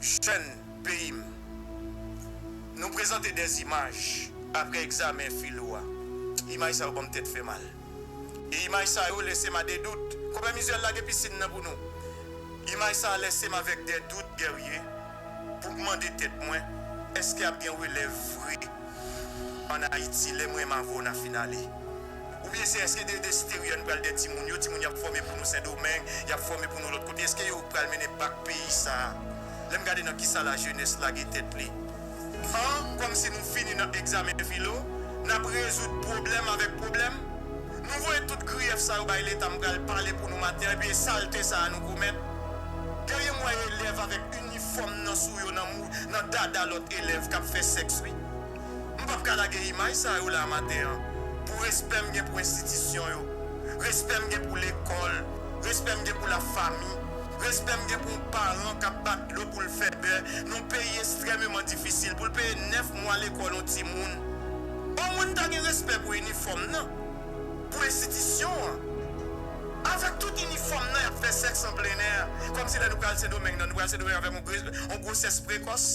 Jèn peyi m, nou prezante 2 imaj apre egzamen filo a. Imaj sa yo ban m tèt fè mal. E imaj sa yo lèse m a 2 dout. Konpè Mizuel lage pisin nan pou nou. Imaj sa a lèse m avèk 2 dout Guerrier pou m mande tèt mwen èske ap gen relèv vre an Ayiti lè mwen m avè w na fin ale. Ou byen se eske de esterior nou pral de timoun yo timoun yap fome pou nou sendomeng yap fome pou nou lot kote eske yo pral mennen bak peyi sa lem gade nan kisa la jenes lage tet li an komsi nou fini nan egzamen filo nap rezoud pwoblem avek pwoblem nou voye tout griyef sa yo bay leta m pral pale pou nou maten an epi e salte sa nou komet Guerrier m wè elev avek inifom nan sou yo nan mou nan dada lot elev kap fe sex wi. M pap ka lage imaj sa yo la maten an pou respè m gen pou enstitisyon yo, respè m gen pou lekòl, respè m gen pou lafami, respè m gen pou yon paran k ap bat dlo pou l fè bè nan yon peyi estrèmeman difisil pou l peye 9 mwa lekòl yon timoun. Omwen m ta gen respè pou inifòm nan, pou enstitisyon an. Avèk tout inifòm nan y ap fè sèks an plenè, kòmsi lè nou pral Sendomeng nan nou pral Sendomeng avèk yon gwosès prekòs.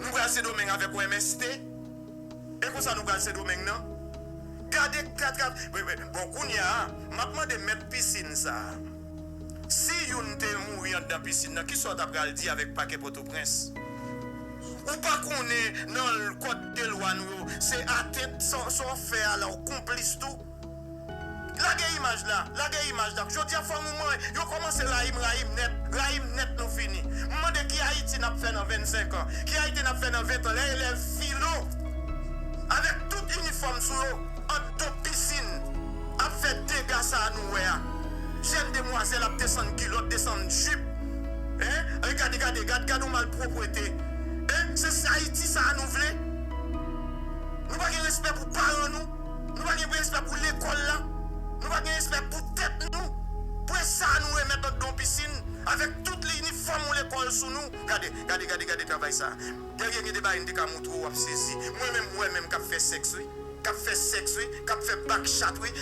Nou pral sendomeng avèk ou MST e konsa nou pral sendomeng nan gade katra bon kounya map mande mèt piscine sa si youn te mouri andan piscine nan kisa ou ta pral di avèk pakè pòtoprens ou pa konnen nan kòd de lwa nou yo se atent sa ou fè a la ou konplis tou. Lage imaj la, lage imaj la. Jodia fanm ou mwen yo komanse rayim, rayim nèt, rayim nèt nou fini. M mande ki Ayiti nap fè nan 25 an, ki Ayiti nap fè nan 20 an lè elèv filo avèk tout inifòm sou yo ant do pisin ap fè dega sa nou wè a. Jèn demwazèl ap desann kilòt, desann jip eh gade gade gad gad yon malpropwete eh se Ayiti sa nou vle? Nou pa gen respè pou paran nou? Nou pa gen respè pou lekòl la, nou pa gen respè pou tèt nou, pwen sa nou remèt andan yon pisin avèk tout inifòm yon lekòl sou nou. Gade, gade, gade, gade travay sa. Dèryè gen de bagay m te ka montre w w ap sezi. Mwen menm m wè menm k ap fè sèks wi, k ap fè sèks wi, k ap fè back chat wi,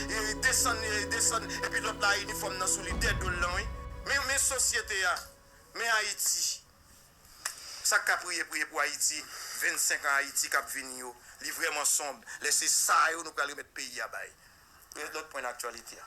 desann, desann epi lòt la a inifòm nan sou li dèdo l lan wi. Men, men sosyete a, men Ayiti. Sak ka priye priye pou ayiti 25 an ayiti kap vini yo li vreman sonb lè se sa yo nou pral remèt peyi a bay. Lòt pwen nan aktyalite a.